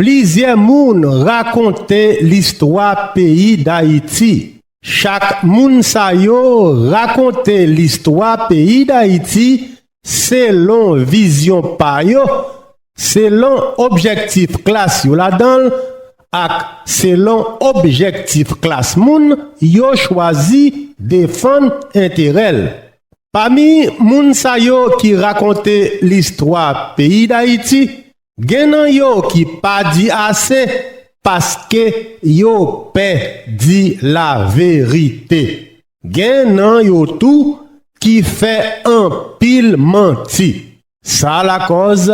Plizyè moun rakonte listwa peyi Dayiti. Chak moun sa yo rakonte listwa peyi Dayiti selon vizyon pa yo, selon objektif klas yo ladan l ak selon objektif klas moun yo chwazi defann enterè l. Pami moun sa yo ki rakonte listwa peyi Dayiti, Gen nan yo ki pa di ase paske yo pè di laverite. Gen nan yo tou ki fè anpil manti. Sa lakòz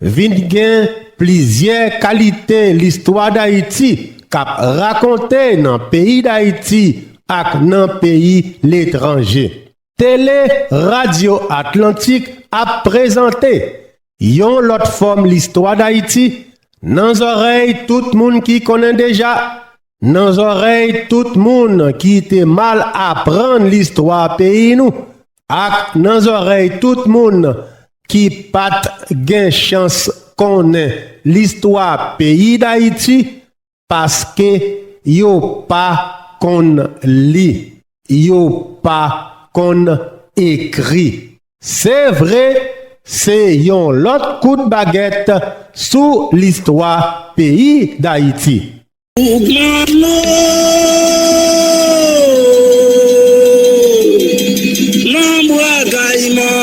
vin gen plizyè kalite listwa Dayiti k ap rakonte nan peyi Dayiti ak nan peyi letranje. Tele Radyo Atlantik ap prezante yon lòt fòm listwa dayiti nan zòrèy tout moun ki konnen deja, nan zòrèy tout moun ki te mal aprann listwa peyi nou ak nan zòrèy tout moun ki pat gen chans konnen listwa peyi dayiti Paske yo pa konn li. Yo pa konn ekri. Se vre, se yon lòt kout bagèt sou listwa peyi Dayiti. Pwoklame nan Bwa Kayiman!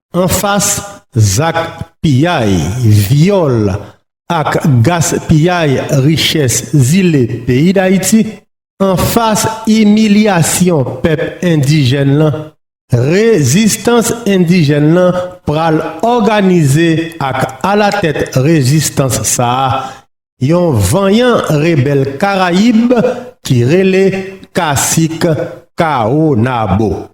Anfas zak piyay, vyòl ak gaspiyay richès zile peyi Dayiti, anfas imilyasyon pèp endijèn lan, rezistans endijèn lan pral òganize ak alatèt rezistans sa a, yon vanyan rebèl Karayib ki rele Kasik Kawonabo.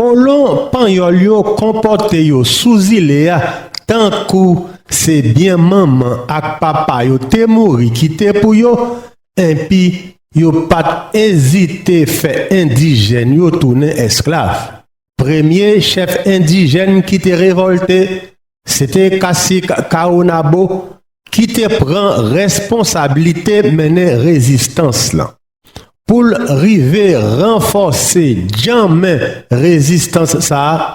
Kolon panyòl yo konpòte yo sou zile a tankou se byen manman ak papa yo te mouri kite pou yo, Enpi, yo pa t ezite fè endijèn yo tounen esklav. Premye chèf endijèn ki te revòlte se te kasik Kawonabo ki te pran responsablite mennen rezistans lan. Pou l rive ranfòse djanmen rezistans sa a,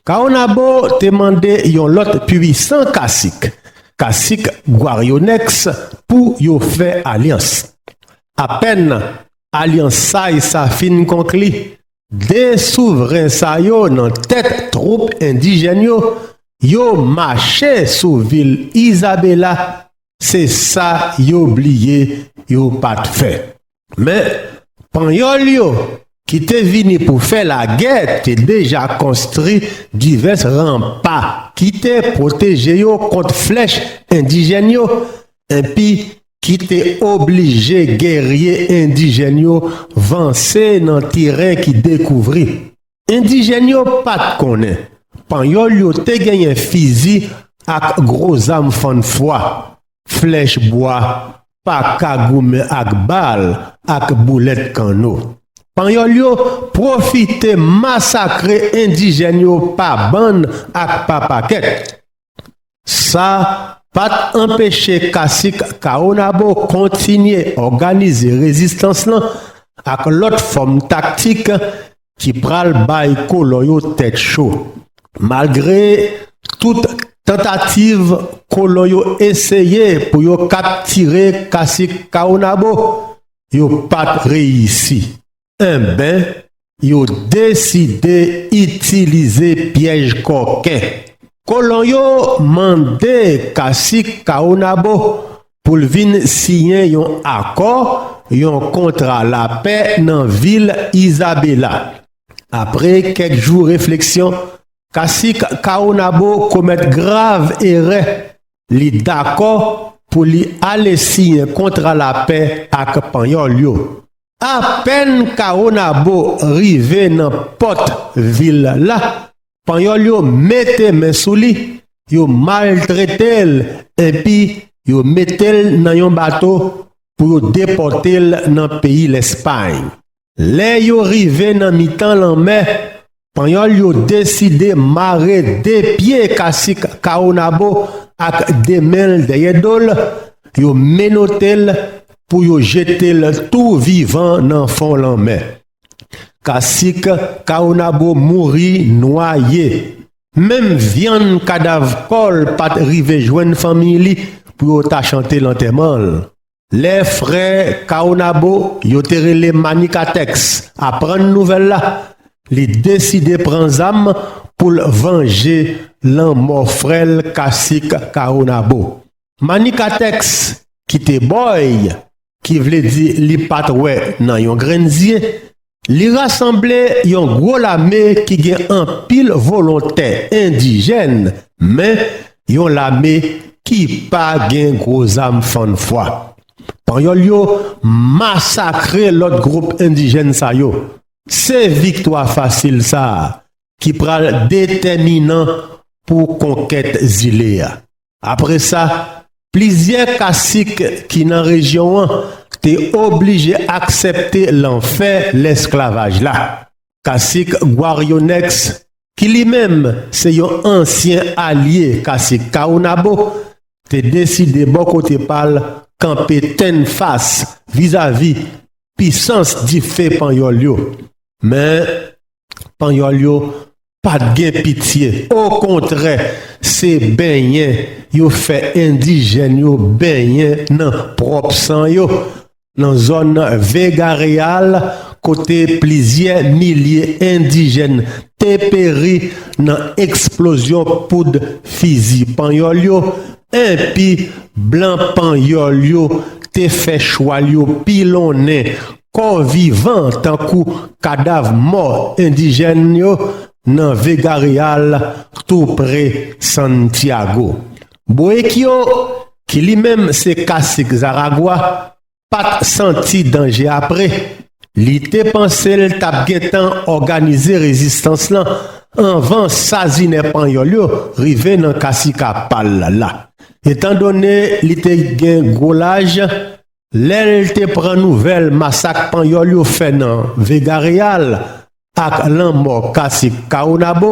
Caonabo te mande yon lòt pwisan kasik, kasik Guarionèks pou yo fè alyans. Apèn alyansay sa fin konkli, 2 souvren sa yo nan tèt twoup endijèn yo, yo mache sou vil Isabela Se sa yo bliye yo pa t fè. Men, Panyòl yo, ki te vini pou fè lagè, te deja konstri divès ranpa ki te pwoteje yo kont flèch endijèn yo, enpi ki te oblije gèrye endijèn yo vanse nan teren ki dekouvri. Endijèn yo pa t konnen Panyòl yo te genyen fizi ak gwo zam fann fwa, flèch bwa, pa ka goumen ak bal ak boulèt kanno. Panyòl yo pwofite masakre endijèn yo pa bann ak pa pakèt. Sa pa t anpeche kasik Caonabo kontinye òganize rezistans lan ak lòt fòm taktik ki pral bay kolon yo tèt cho. Malgre tout tantativ kolon yo eseye pou yo kaptire kasik Caonabo, yo pa t reyisi. Enben, yo deside itilize pyèj kòken. Kolon yo mande kasik Caonabo pou l vin siyen yon akò, yon kontra lapè nan vil Isabela. Apre kèk jou refleksyon, kasik Caonabo komèt grav erè, li dakò pou li ale siyen kontra lapè ak Panyòl yo. Apèn Caonabo rive nan pòt vil la, Panyòl yo mete men sou li, yo maltrete l enpi yo mete l nan yon bato pou yo depòte l nan peyi Lèspay. Lè yo rive nan mitan lanmè, Panyòl yo deside mare 2 pye kasik Caonabo ak 2 men l dèyè do l, yo menote l pou yo jete l tou vivan nan fon lanmè. Kasik Caonabo mouri nwaye, menm vyann kadav kò l pa t rive jwenn fanmiy li pou yo ta chante lantèman l. Lè frè Caonabo, yo te rele Manicatex, aprann nouvèl la, li deside pran zam pou l vanje lanmò frè l Kasik Caonabo. Manicatex, ki te bòy, ki vle di li pa t wè nan yon grenn zye, Li rasanble yon gwo lame ki gen anpil volontè endijèn men yon lame ki pa gen gwo zam fann fwa. Panyòl yo masakre lòt gwoup endijèn sa yo. Se viktwa fasil sa a ki pral detèminan pou konkèt zile a. Apre sa, plizyè kasik ki nan rejyon an te oblije aksepte lanfè lesklavaj la. Kasik Gwarionèks, ki li menm se yon ansyen alye kasik Kawonabo, te deside bò kote pa l kanpe tenn fas vizavi pisans dife Panyòl yo. Men, Panyòl yo pa t gen pitye, okontrè se benyen yo fè endijèn yo benyen nan pwòp san yo nan zòn Vega Real kote plizyè milye endijèn te peri nan eksplozyon poud fizi Panyòl yo enpi blan Panyòl yo te fè chwal yo pilonnen Kò vivan tankou kadav mò endijèn yo nan Vega Real tou pre Santiago. Boekio, ki li menm se kasik Zaragwa, pa t santi danje apre li te panse l t ap gentan òganize rezistans lan anvan sazinè panyòl yo rive nan kasika pa l la. Etandone li te gen gwo laj, Lè l te pran nouvèl masak Panyòl yo fè nan Vega Real ak lanmò Kasik Caonabo,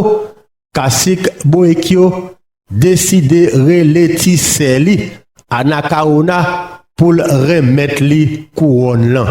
Kasik Boekio deside rele ti sè li, Anacaona, pou l renmèt li kouwòn lan.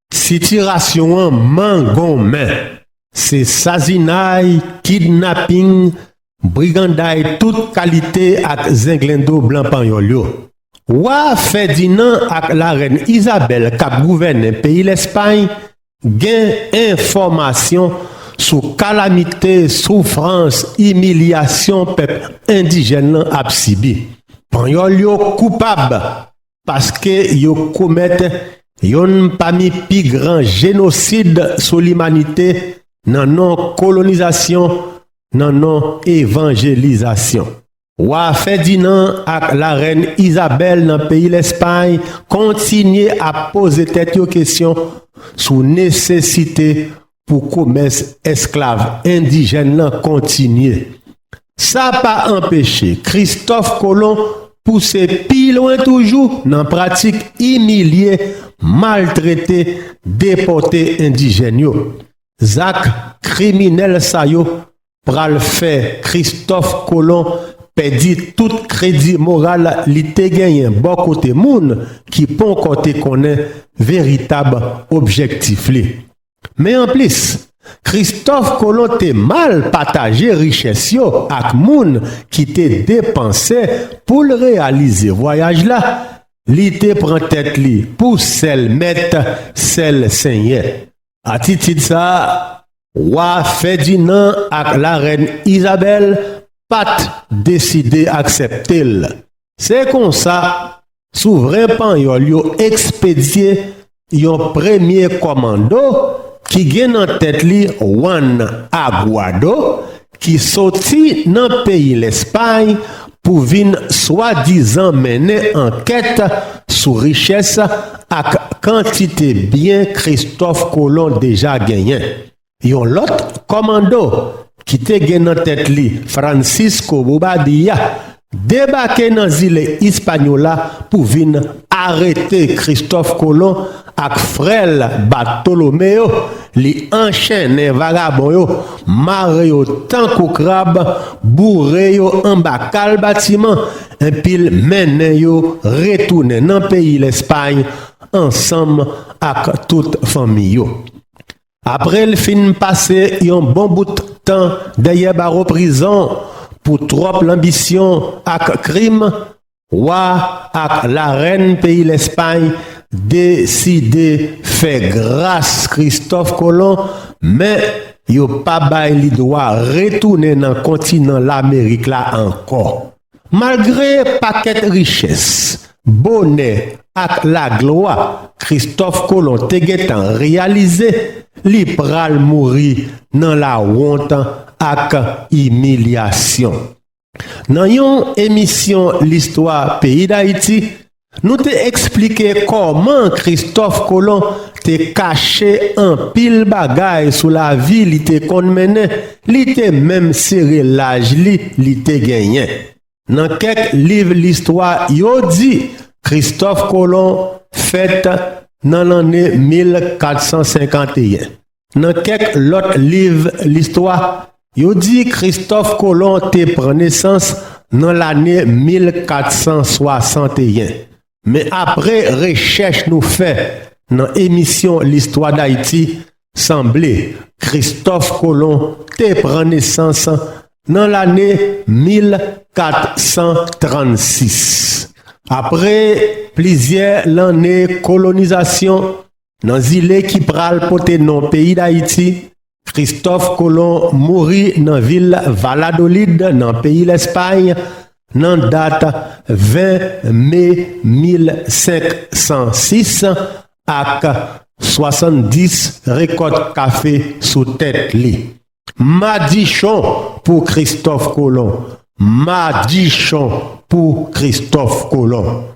Sitirasyon an mangonmen. Se sazinay, kidnaping, briganday tout kalite ak zenglendo blan panyòl yo. Wa Fèdinan ak larèn Izabèl k ap gouvènen peyi Lèspay gen enfòmasyon sou kalamite, soufrans, imilyasyon pèp endijèn lan ap sibi. Panyòl yo koupab! Paske yo komèt yonn pami pi gran jenosid sou limanite nan non kolonizasyon, nan non evanjelizasyon. Wa Fèdinan ak Larèn Izabèl nan peyi Lèspay kontinye ap poze tèt yo kesyon sou nesesite pou komès esklav endijèn lan kontinye. Sa pa anpeche Kristòf Kolon pouse pi lwen toujou nan pratik imilye, maltrete, depòte endijèn yo. Zak kriminèl sa yo pral fè kristòf kolon pèdi tout kredi moral li te genyen bò kote moun ki ponkò te konnen veritab objektif li men anplis kristòf kolon te mal pataje richès yo ak moun ki te depanse pou l reyalize vwayaj la li te pran tèt li pou sèl mèt sèl senyè Atitid sa a, Wa Fèdinan ak Larèn Izabèl pa t deside aksepte l. Se konsa, souvren panyòl yo ekspedye yon premye kòmando ki gen nan tèt li Wann Aguado ki soti nan peyi Lèspay pou vin swadizan mennen ankèt sou richès ak kantite byen Kristòf Kolon deja genyen. Yon lòt kòmando ki te gen nan tèt li Francisco Bobadilla Debake nan zile Ispanyola pou vin arete Kristòf Kolon ak frè l Batolomeyo, li anchennen vagabon yo, mare yo tankou krab, boure yo anba kal batiman, enpi l mennen yo retounen nan peyi Lèspay ansanm ak tout fanmi yo. Apre l fin pase yon bon bout tan dèyè bawo prizon pou twòp lanbisyon ak krim, Wa ak Larèn peyi Lèspay deside fè gras Kristòf Kolon, men yo pa bay li dwa retounen nan kontinan Lamerik la ankò. Malgre pakèt richès, bonè ak laglwa Kristòf Kolon te gentan reyalize, li pral mouri nan lawont ak imilyasyon. Nan yon emisyon listwa peyi Dayiti, Nou te eksplike kòman Kristòf Kolon te kache anpil bagay sou lavi li te konn mennen, li te menm sere laj li li te genyen. Nan kèk liv listwa yo di Kristòf Kolon fèt nan lanne 1451. Nan kèk lòt liv listwa, yo di Kristòf Kolon te pran nesans nan lane 1461. Men apre rechèch nou fè nan emisyon Listwa Dayiti, sanble Kristòf Kolon te pran nesans nan lane 1436, apre plizyè lanne kolonizasyon. Nan zile ki pral pote non peyi Dayiti, Kristòf Kolon mouri nan vil Valadolid nan peyi Lèspay nan dat 20 me 1506 ak 70 rekòt kafe sou tèt li. Madichon pou Kristòf Kolon! Madichon pou Kristòf Kolon!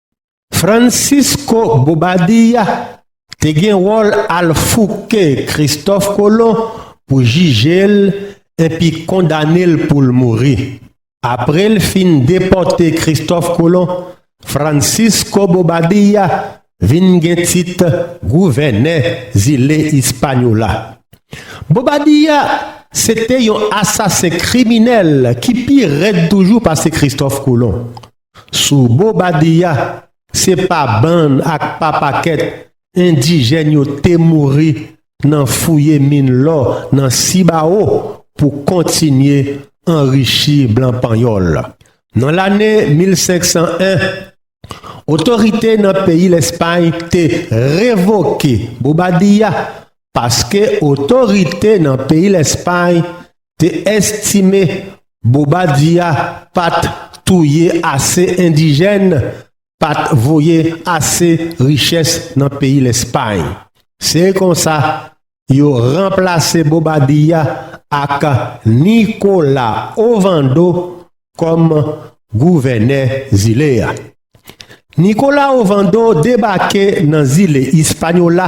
Francisco Bobadilla te gen wòl al fouke Kristòf Kolon pou jije l enpi kondane l pou l mouri. Apre l fin depòte Kristòf Kolon, Francisco Bobadilla vin gen tit gouvènè zile Ispanyola. Bobadilla se te yon asasen kriminèl ki pi rèd toujou pase Kristòf Kolon. Sou Bobadilla, se pa bann ak pa pakèt endijèn yo te mouri nan fouye min lò nan Sibawo pou kontinye anrichi blan panyòl. Nan lane 1501, otorite nan peyi Lèspay te revoke Bobadilla paske otorite nan peyi Lèspay te estime Bobadilla pa t touye ase endijèn, pa t voye ase richès nan peyi Lèspay. Se konsa, yo ranplase Bobadilla ak Nicolas Ovando kòm gouvènè zile a. Nicolas Ovando debake nan zile Ispanyola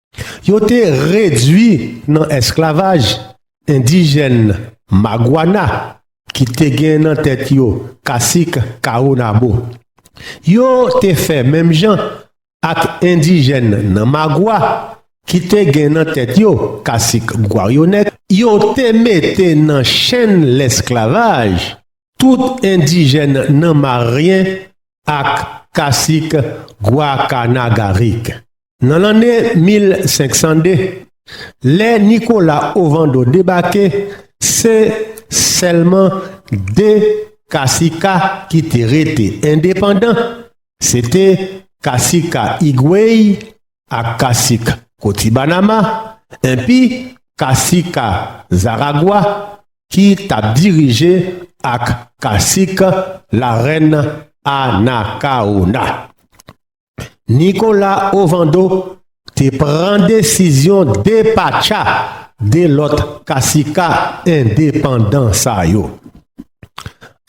Yo te redui nan esklavaj endijèn Maguana ki te gen nan tèt yo Kasik Kawonabo. Yo te fè menm jan ak endijèn nan Magua ki te gen nan tèt yo Kasik Gwaryonèk. Yo te mete nan chenn lesklavaj tout endijèn nan Maryen ak Kasik Gwakanagarik. Nan lanne 1502, lè Nikola Ovando debake, se sèlman 2 kasika ki te rete endepandan, se te kasika Igwey ak kasik Kotibanama, enpi kasika Zaragwa ki t ap dirije ak kasik Larèn Anakawona. Nicolas Ovando te pran desizyon depatcha 2 lòt kasika endepandan sa yo.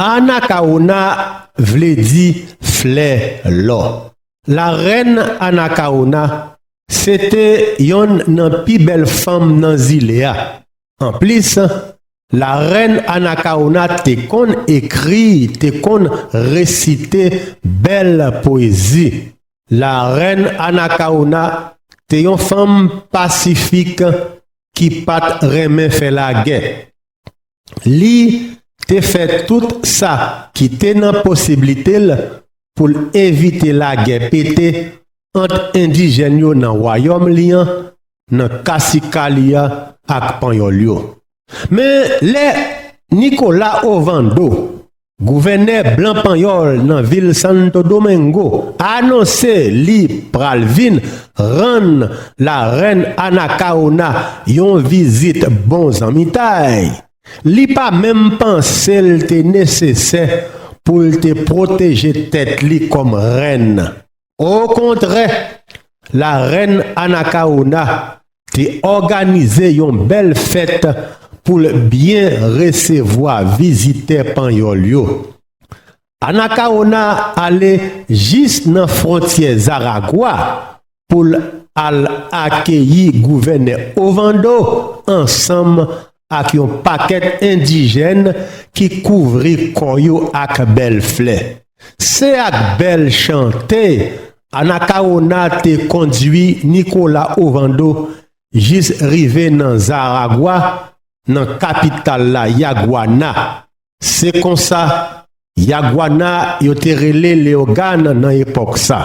Anacaona vle di flè lò. La reine Anacaona se te yonn nan pi bèl fanm nan zile a. Anplis, Larèn Anakawona te konn ekri, te konn resite bèl pwezi. Larèn Anakawona te yon fanm pasifik ki pa t renmen fè lagè. Li te fè tout sa ki te nan posiblite l pou l evite lagè pete ant endijèn yo nan wayòm li an nan kasika li a ak panyòl yo. Men, lè Nicolas Ovando, gouvènè blan panyòl nan vil Santo Domingo, anonse li pral vin rann Larèn Anacaona yon vizit bon zanmitay, li pa menm panse l te nesesè pou l te pwoteje tèt li kòm rèn Okontrè, Larèn Anakawona te òganize yon bèl fèt pou l byen resevwa vizitè Panyòl yo. Anakawona ale jis nan fwontyè Zaragwa pou l al akeyi Gouvènè Ovando ansanm ak yon pakèt endijèn ki kouvri kò yo ak bèl flè. Se ak bèl chante Anacaona te kondui Nicolas Ovando jis rive nan Zaragwa, nan kapital la Yaguana, Se konsa, Yaguana yo te rele Leogane nan epòk sa.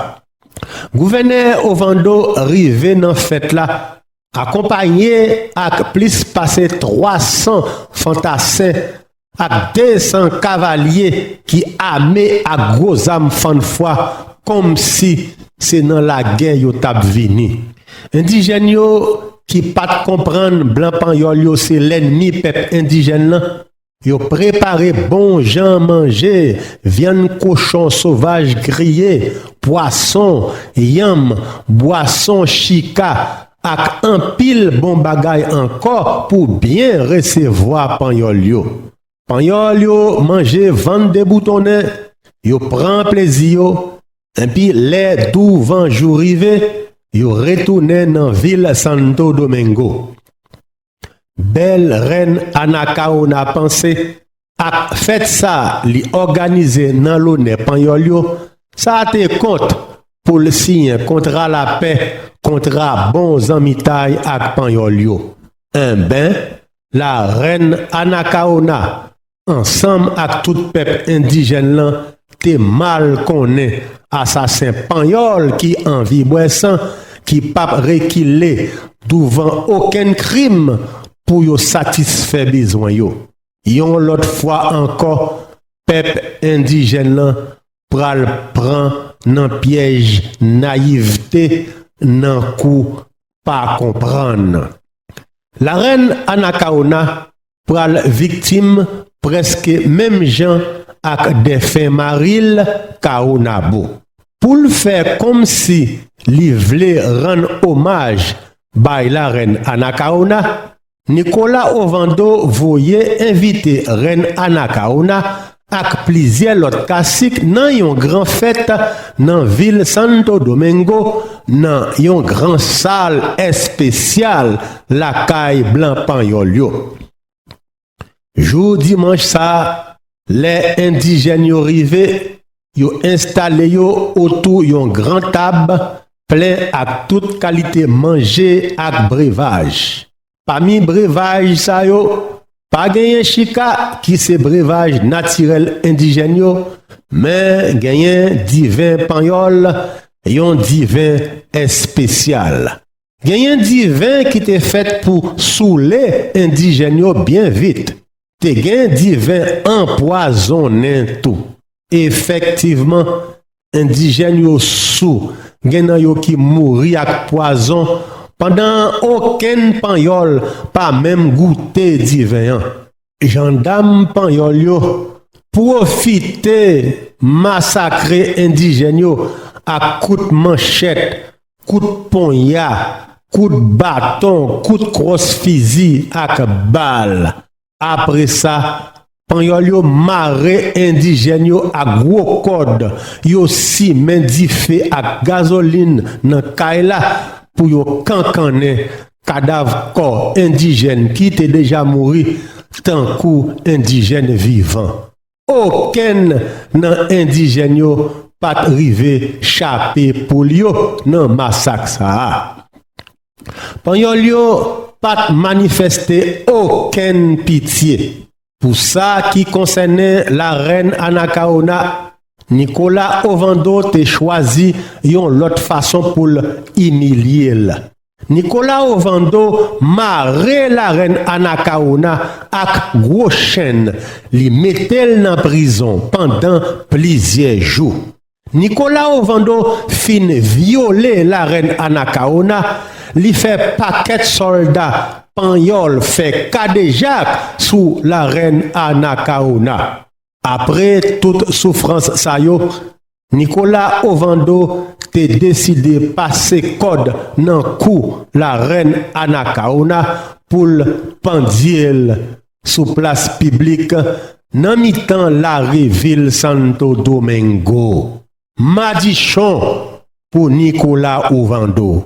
Gouvènè Ovando rive nan fèt la akonpanye ak plis pase 300 fantasen ak 200 kavalye ki ame ak gwo zam fann fwa kòmsi se nan lagè yo t ap vini. Endijèn yo ki pa t konprann blan panyòl yo se lènmi pèp endijèn lan, Yo prepare bon jan manje, vyann kochon sovaj griye, pwason, yanm, bwason chika ak anpil bon bagay ankò pou byen resevwa Panyòl yo. Panyòl yo manje vann deboutonnen, yo pran plezi yo, enpi lè douvanjou rive, yo retounen nan vil Santo Domingo. Bèl rèn Anacaona panse ak fèt sa li òganize nan lonè Panyòl yo, sa te kont pou l siyen kontra lapè, kontra bon zanmitay ak Panyòl yo. Enben, la rèn Anacaona ansanm ak tout pèp endijèn lan te mal konnen asasen panyòl ki anvi bwè san ki pap rekile douvan okenn krim pou yo satisfè bezwen yo. Yon lòt fwa ankò pèp endijèn lan pral pran nan pyèj nayivte nan kou pa konprann. Larèn Anakaona pral viktim prèske menm jan ak dèfen mari l Caonabo. Pou l fè kòmsi li vle rann omaj bay larèn Anacaona, Nicolas Ovando voye envite rèn Anacaona ak plizyè lòt kasik nan yon gran fèt nan vil Santo Domingo nan yon gran sal espesyal lakay blan panyòl yo. Jou dimanch sa, lè endijèn yo rive, yo enstale yo otou yon gran tab plen ak tout kalite manje ak brevaj. Pami brevaj sa yo, pa genyen chika ki se brevaj natirèl endijèn yo, men genyen diven panyòl, yon diven espesyal. Genyen diven ki te fèt pou soule endijèn yo byen vit. Te gen diven anpwazonnen tou. Efektivman, endijèn yo sou, gen nan yo ki mouri ak pwazon pandan okenn Panyòl pa menm goute diven an. Jandam Panyòl yo pwofite masakre endijèn yo ak kout manchèt Kout ponya, kout baton, kout kwòs fizi ak bal. Apre sa, Panyòl yo mare endijèn yo ak gwo kòd, yo simen dife ak gazolin nan kay la pou yo kankannen kadav kò endijèn ki te deja mouri tankou endijèn vivan. Okenn nan endijèn yo pa t rive chape poul yo nan masak sa a. Panyòl yo pa t manifèste okenn pitye pou sa ki konsènen Larèn Anakawona, Nikola Ovando te chwazi yon lòt fason pou l imilye l. Nicolas Ovando mare la rèn Anacaona ak gwo chenn li metel nan prizon pandan plizyè jou. Nicolas Ovando fin vyole la rèn Anacaona, li fè pakèt sòlda panyòl fè kadejak sou la rèn Anacaona. Apre tout soufrans sa yo, Nicolas Ovando te deside pase kòd nan kou la rèn Anacaona pou l pandye l sou plas piblik nan mitan lari vil Santo Domingo. Madichon pou Nicolas Ovando!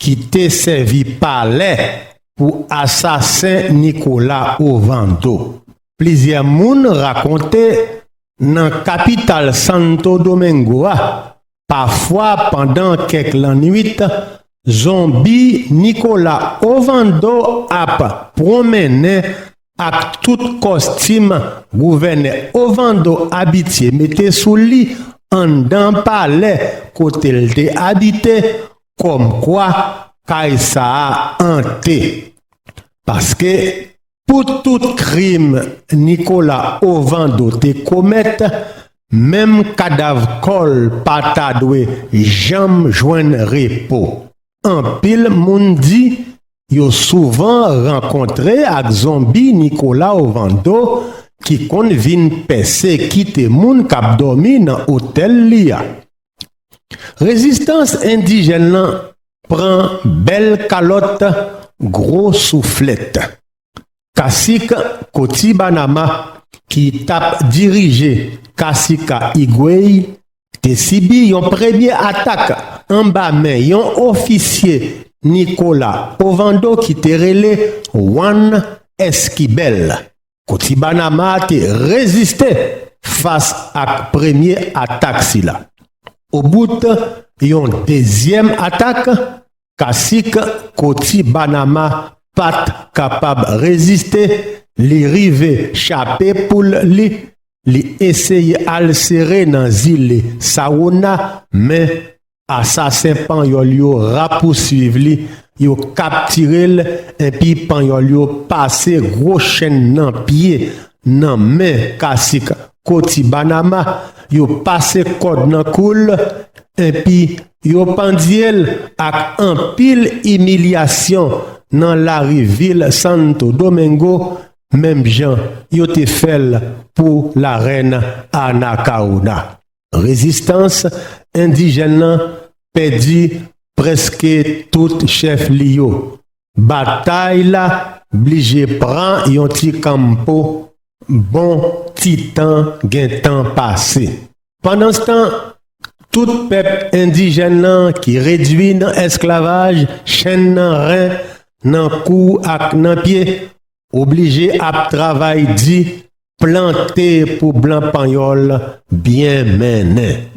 ki te sèvi palè pou asasen Nikola Ovando. Plizyè moun rakonte nan kapital Santo Domingo a, pafwa pandan kèk lannwit, zonbi Nikola Ovando ap pwonmennen Ak tout kòstim gouvènè Ovando abitye mete sou li anndan palè kote l te abite, kòmkwa kay sa a ante. Paske, pou tout krim Nicolas Ovando te komèt, menm kadav kò l pa ta dwe janm jwenn repo. Anpil moun di yo souvan rankontre ak zonbi Nicolau Vando ki konn vin pèse kite moun k ap dòmi nan otèl li a. Rezistans endijèn lan pran bèl kalòt gwo souflèt. Kasik Koti Banama ki tap dirije Kasika Igwey te sibi yon premye atak anba men yon ofisye Nikola Ovando ki te rele Juan Esquibel. Koti Banama te reziste fas ak premye atak sila. Obout yon dezyèm atak, Kasik Koti Banama pa t kapab reziste, li rive chape poul li, li eseye al sere nan zile Sawona, men asasen Panyòl yo rapousuiv li, yo kaptire l enpi Panyòl yo pase gwo chenn nan pye, nan men Kasik Koti Banama, yo pase kòd nan kou l enpi Yo pandye l ak anpil imilyasyon nan lari vil Santo Domingo menm jan yo te fè l pou Larèn Anacaona. Rezistans endijèn lan pèdi prèske tout chèf li yo, Batay la blije pran yon ti kanmpo, bon ti tan gentan pase. Pandanstan, tout pèp endijèn lan ki redui nan esklavaj, chenn nan ren, nan kou ak nan pye, Oblije ap travay di, plante pou blan panyòl byen mennen.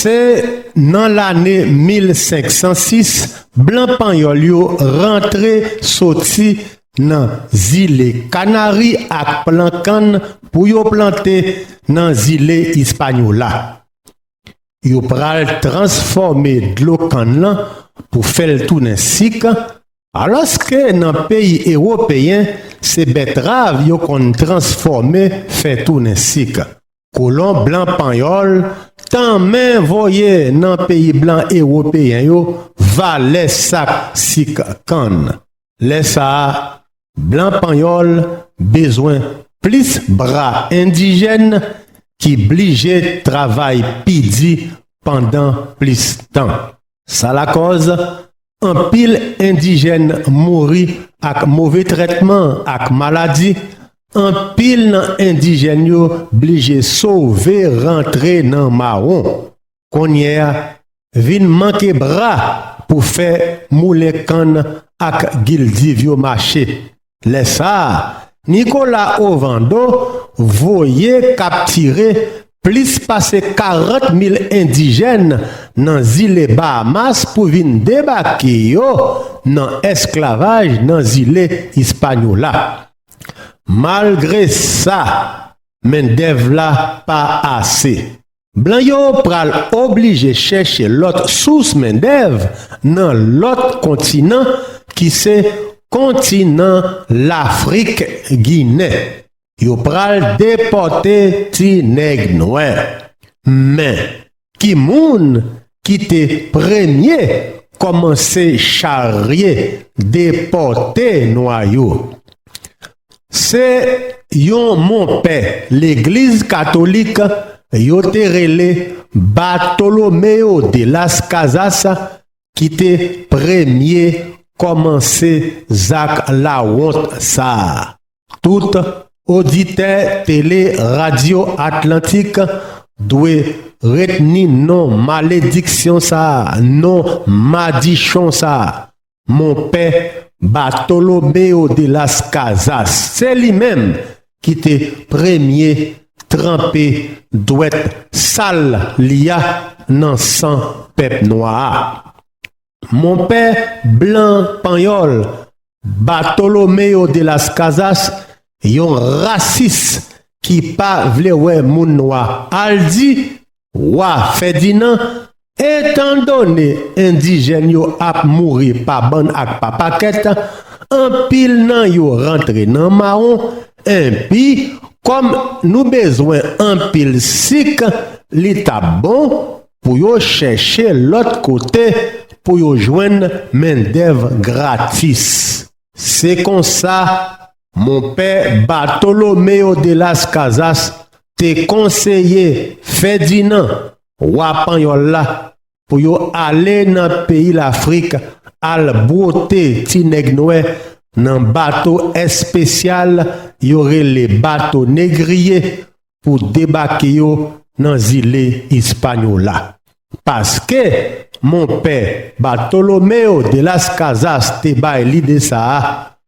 Se nan lane 1506 blan panyòl yo rantre soti nan zile Kanari ak plan kann pou yo plante nan zile Ispanyola. Yo pral transfòme dlo kann lan pou fè l tounen sik, alòske nan peyi ewopeyen se bètrav yo konn transfòme fè tounen sik. Kolon blan panyòl tanmen voye nan peyi blan ewopeyen yo valè sak sik kann. Lè sa a, blan panyòl bezwen plis bra endijèn ki blije travay pi di pandan plis tan. Sa lakòz anpil endijèn mouri ak move trètman ak maladi, anpil nan endijèn yo blije sove rantre nan mawon. Konnye a, vin manke bra pou fè moulen kann ak gildiv yo mache. Lè sa a, Nicolas Ovando voye kaptire plis pase 40 mil endijèn nan zile Bahamas pou vin debake yo nan esklavaj nan zile Ispanyola. Malgre sa, mendèv la pa ase. Blan yo pral oblije chèche lòt sous mendèv nan lòt kontinan ki se kontinan Lafrik Ginen. Yo pral depòte ti nèg nwè. Men, ki moun ki te premye kòmanse charye depòte nwa yo? Se yon monpè legliz katolik yo te rele Bartolomeo de las Casas ki te premye kòmanse zak lawont sa a. Tout oditè Tele Radyo Atlantik dwe retni non malediksyon sa a, non madichon sa a. monpè Bartolomeo de las Casas, se li menm ki te premye tranpe dwèt sal li a nan san pèp nwa a. Monpè blan panyòl Bartolomeo de las Casas, yon rasis ki pa vle wè moun nwa, al di Wa Fèdinan, Etandone endijèn yo ap mouri pa bann ak pa pakèt, anpil nan yo rantre nan mawon, enpi, kòm nou bezwen anpil sik, li t ap bon pou yo chèche lòt kote pou yo jwenn mendèv gratis. Se konsa, Monpè Bartolomeo de las Casas te konseye Fèdinan, wa panyòl la, pou yo ale nan peyi Lafrik al bwote ti nèg nwè nan bato espesyal yo rele bato negriye pou debake yo nan zile Ispanyola. Paske monpè Bartolomeo de las Casas te bay lide sa a,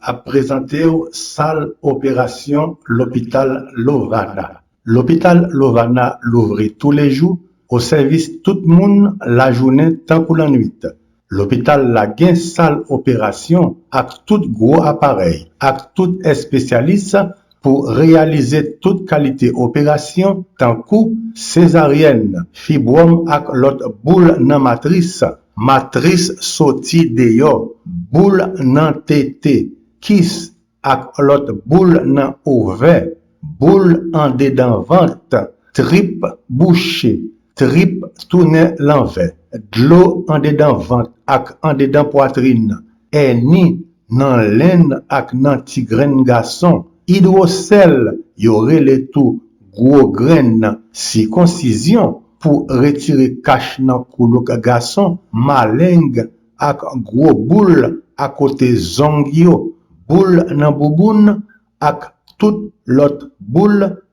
ap prezante w sal operasyon lopital Lovana. Lopital Lovana louvri toulejou o sèvis tout moun lajounen tankou lannwit. Lopital la gen sal operasyon ak tout gwo aparèy ak tout espesyalis pou reyalize tout kalite operasyon tankou sezaryèn, fibwòm ak lòt boul nan matris Matris soti deyò, boul nan tete, kis, ak lòt boul nan ovè, boul andedan vant, trip bouche, trip tounen lanvè, dlo andedan vant ak andedan pwatrin, èni nan len ak nan ti grenn gason, idwosèl, yo rele tou gwo grenn, sikonsizyon, pou retire kach nan koulouk gason, maleng, ak gwo boul akote zong yo, boul nan bouboun, ak tout lòt boul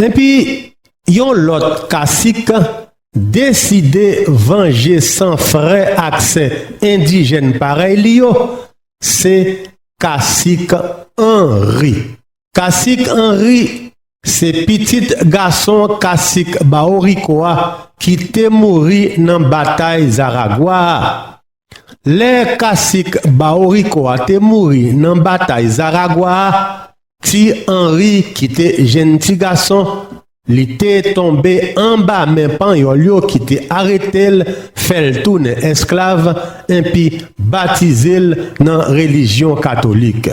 Epi, yon lòt kasik deside vanje san frè ak sè endijèn parèy li yo, se kasik Anri. Kasik Anri se pitit gason kasik Baworiko a ki te mouri nan batay Zaragwa a. Lè kasik Bauriko a te mouri nan batay Zaragwa a, ti Anri ki te jenn ti gason, li te tonbe anba men Panyòl yo ki te arete l, fè l tounen esklav, enpi batize l nan relijyon katolik.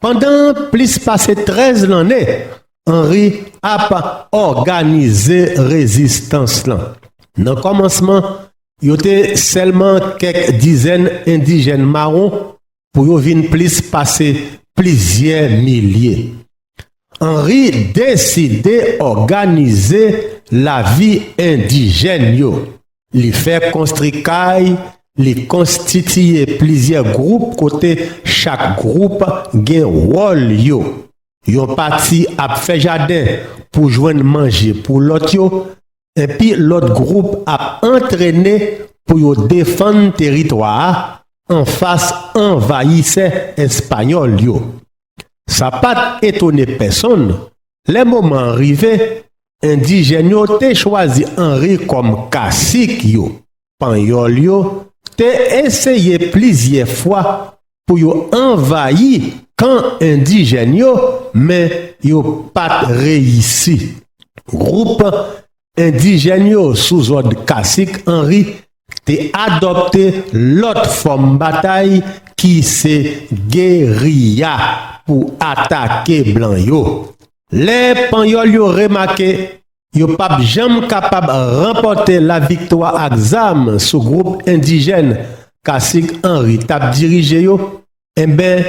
Pandan plis pase 13 lanne, Henry ap òganize rezistans lan. Nan kòmansman, yo te sèlman kèk dizèn endijèn mawon pou yo vin plis pase plizyè milye. Henry deside òganize lavi endijèn yo. Li fè konstri kay, li konstitiye plizyè gwoup kote chak gwoup gen wòl yo. Yon pati ap fè jaden pou jwenn manje pou lòt yo, enpi lòt gwoup ap antrene pou yo defann teritwa a anfas anvayisè espayòl yo. Sa pa t etone pèsonn, lè moman an rive, endijèn yo te chwazi Anri kòm kasik yo. Panyòl yo te eseye plizyè fwa pou yo anvayi kan endijèn yo, men yo pa t reyisi. Gwoup Endijèn yo sou zòd kasik Anri te adòpte lòt fòm batay ki se geriya pou atake blan yo. Lè panyòl yo remake yo pap janm kapab ranpòte laviktwa ak zam sou gwoup endijèn kasik Anri tap dirije yo, enben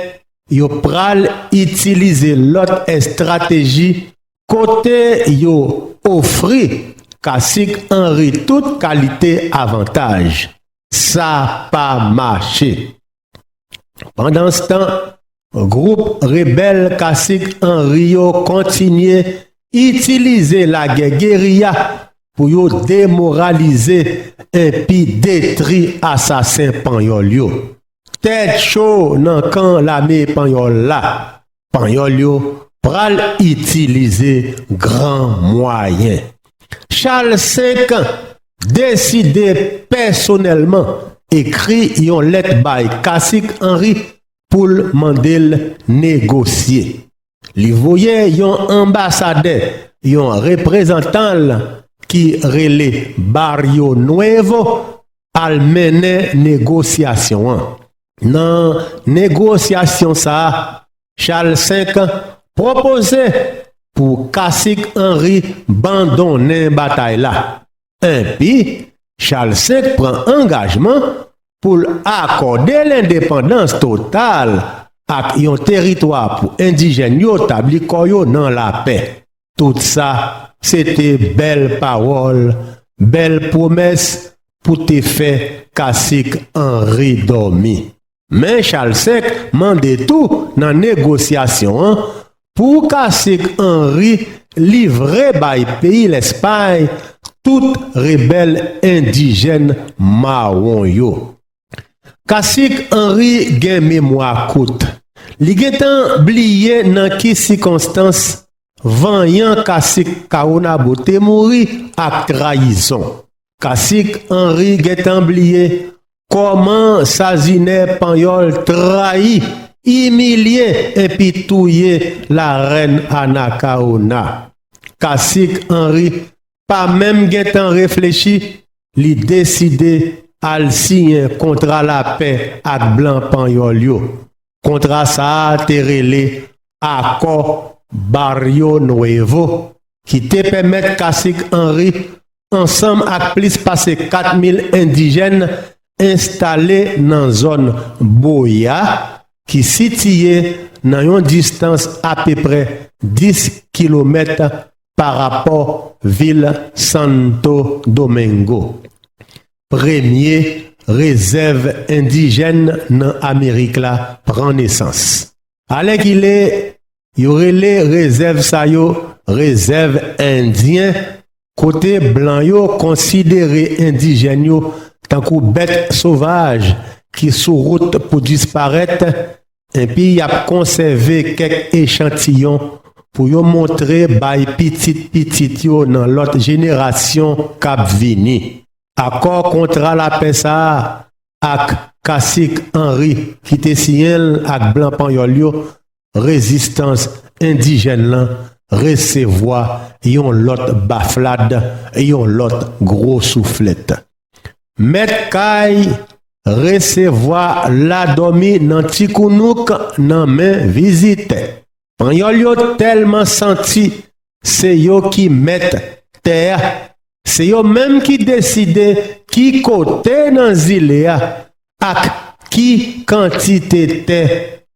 yo pral itilize lòt estrateji Kote yo ofri kasik anri tout kalite avantaj, sa pa mache. Pandanstan, gwoup rebèl kasik anri yo kontinye itilize lagè geriya pou yo demoralize enpi detri asasen panyòl yo. Tèt cho nan kan lame panyòl la! Panyòl yo pral itilize gran mwayen. Chal 5 deside pèsonèlman ekri yon lèt bay Kasik Anri pou l mande l negosye. Li voye yon anbasadè, yon reprezantan l ki rele Barrio Nuevo, al mennen negosyasyon an. Nan negosyasyon sa a, Charles V pwopoze pou kasik Henri bandonnen batay la, enpi Charles V pran angajman pou l akòde lendepandans total ak yon teritwa pou endijèn yo tabli kò yo nan lapè. Tout sa se te bèl pawòl, bèl pwomès pou te fè kasik Anri dòmi. Men Chal Sèk mande tou nan negosyasyon an pou kasik Anri livre bay peyi Lèspay tout rebèl endijèn mawon yo. Kasik Henry gen memwa kout. Li gentan bliye nan ki sikonstans vanyan Kasik Caonabo te mouri ak trayizon. Kasik Henry gentan bliye kòman Sazine Panyòl trayi, imilye enpi touye Larèn Anacaona. Kasik Henry pa menm gen tan reflechi, li deside al siyen kontra lapè ak blan panyòl yo. Kontra sa a te rele Akò Barrio Nuevo ki te pèmèt Kasik Anri ansanm ak plis pase 4 mil endijèn enstale nan zòn Boya ki sitiye nan yon distans apeprè 10 kilomèt pa rapò vil Santo Domingo, premye rezèv endijèn nan Amerik la, pran nesans. Alèkile, yo rele rezèv sa yo rezèv endyen kote blan yo konsidere endijèn yo tankou bèt sovaj ki sou wout pou disparèt Epi y ap konsève kèk echantiyon pou yo montre bay pitit pitit yo nan lòt jenerasyon k ap vini. Akò kontra lapè sa a ak Kasik Anri ki te siyen l ak blan panyòl yo, rezistans endijèn lan resevwa yon lòt baflad, yon lòt gwo souflèt. Mèt kay resevwa la dòmi nan ti kounouk nan men vizitè. Panyòl yo tèlman santi se yo ki mèt tè a, se yo menm ki deside ki kote nan zile a ak ki kantite tè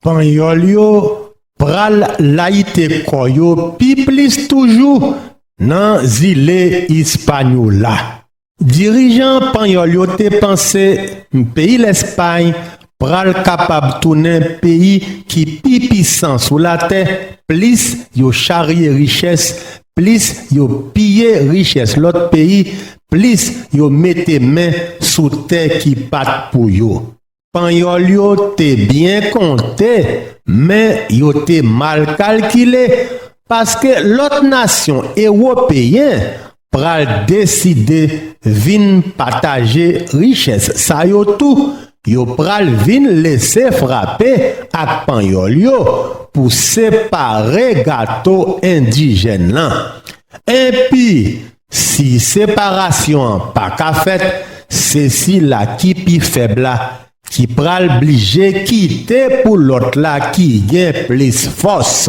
Panyòl yo pral layite kò yo pi plis toujou nan zile Ispanyola. Dirijan panyòl yo te panse peyi Lèspay pral kapab tounen peyi ki pi pisan sou latè plis yo charye richès Plis yo piye richès lòt peyi, plis yo mete men sou tè ki pa t pou yo. Panyòl yo te byen konte, men yo te mal kalkile, paske lòt nasyon ewopeyen pral deside vin pataje richès sa yo tou, Yo pral vin lese frape ak panyòl yo pou separe gato endijèn lan. Enpi, si separasyon an pa ka fèt, se sila ki pi fèb la ki pral blije kite pou lòt la ki gen plis fòs.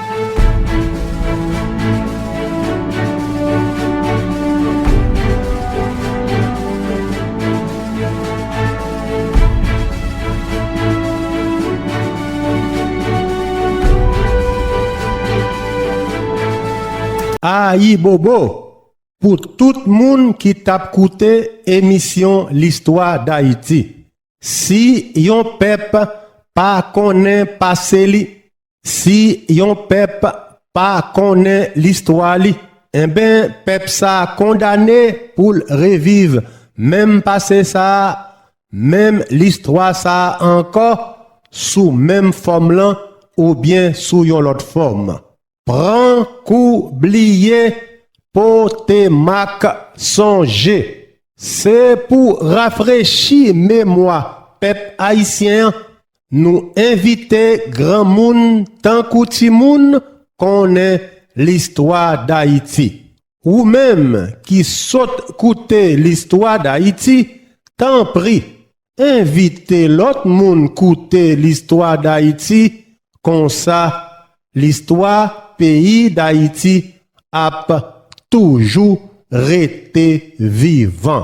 Ayibobo pou tout moun ki t ap koute emisyon listwa dayiti si yon pèp pa konnen pase li Si yon pèp pa konnen listwa li, enben pèp sa kondane pou l reviv menm pase sa, menm listwa sa ankò sou menm fòm lan oubyen sou yon lòt fòm. Pran kou bliye pote mak sonje. Se pou rafrechi memwa pèp ayisyen an Nou envite granmoun tankou timoun konnen listwa Dayiti. Ou menm ki sot koute listwa Dayiti, tanpri envite lòt moun koute listwa Dayiti konsa listwa peyi Dayiti ap toujou rete vivan.